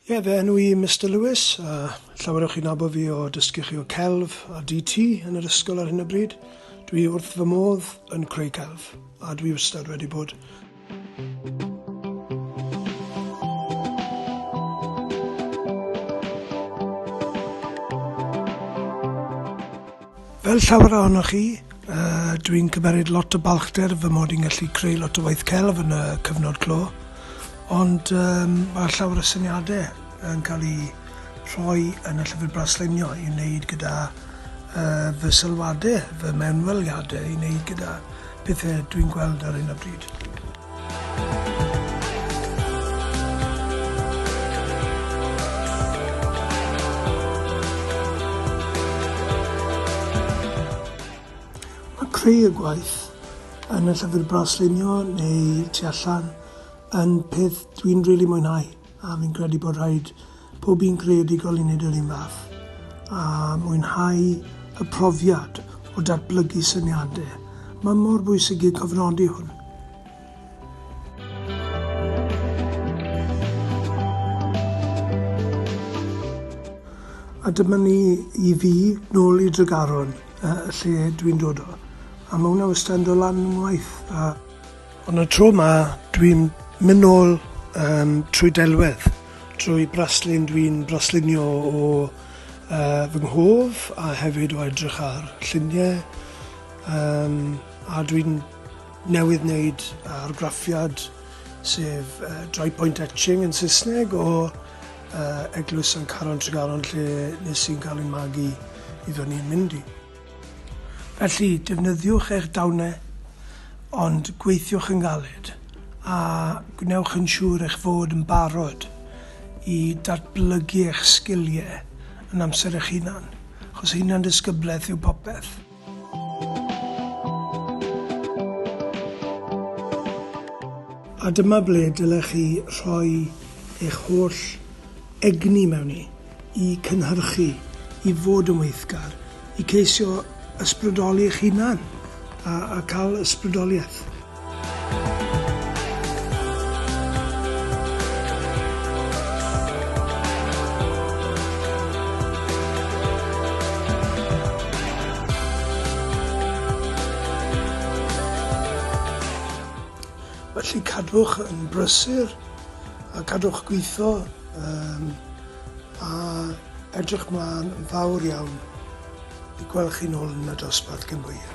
Ie, fy enw i yw Mister Lewis, a llawer o chi'n nabod fi o dysgu chi o celf a DT yn yr ysgol ar hyn o bryd. Dwi wrth fy modd yn creu celf, a dwi wastad wedi bod. Fel llawer ohonoch chi, dwi'n cymeryd lot o balchder fy mod i'n gallu creu lot o waith celf yn y cyfnod clo, ond mae llawer o syniadau yn cael eu rhoi yn y llyfr braslunio i wneud gyda fy sylwadau, fy mewnweliadau i wneud gyda pethau dwi'n gweld ar hyn o bryd. Mae creu y gwaith yn y llyfr braslunio neu tu allan yn peth dwi'n rili mwynhau. A fi'n credu bod rhaid pob un creadigol i wneud yr un fath a mwynhau y profiad o datblygu syniadau. Mae mor bwysig i cofnodi hwn. A dyma ni i fi, nôl i Dregaron, y lle dwi'n dod o. A mae hwnna wastad yn dod lan yn waith. A Ond y tro ma dwi'n mynd nôl um, trwy delwedd, trwy braslun, dwi'n braslunio o uh, fy nghof a hefyd o edrych ar lluniau um, a dwi'n newydd wneud argraffiad sef uh, dry point etching yn Saesneg o uh, Eglwys San Caron Tregaron lle nes i'n cael ei magu i ddod ni'n mynd i. Felly, defnyddiwch eich dawnau, ond gweithiwch yn galed, a gwnewch yn siŵr eich fod yn barod i datblygu eich sgiliau yn amser eich hunan, achos hunan-ddisgyblaeth yw popeth. A dyma ble dylech chi rhoi eich holl egni mewn i. i cynhyrchu, i fod yn weithgar, i ceisio ysbrydoli eich hunan a a ca'l ysbrydolieth. Felly cadwch yn brysur a cadwch gwitho Yym, a edrych mlaen yn fawr iawn i gweld chi'n ôl yn y dosbarth cyn bo hir.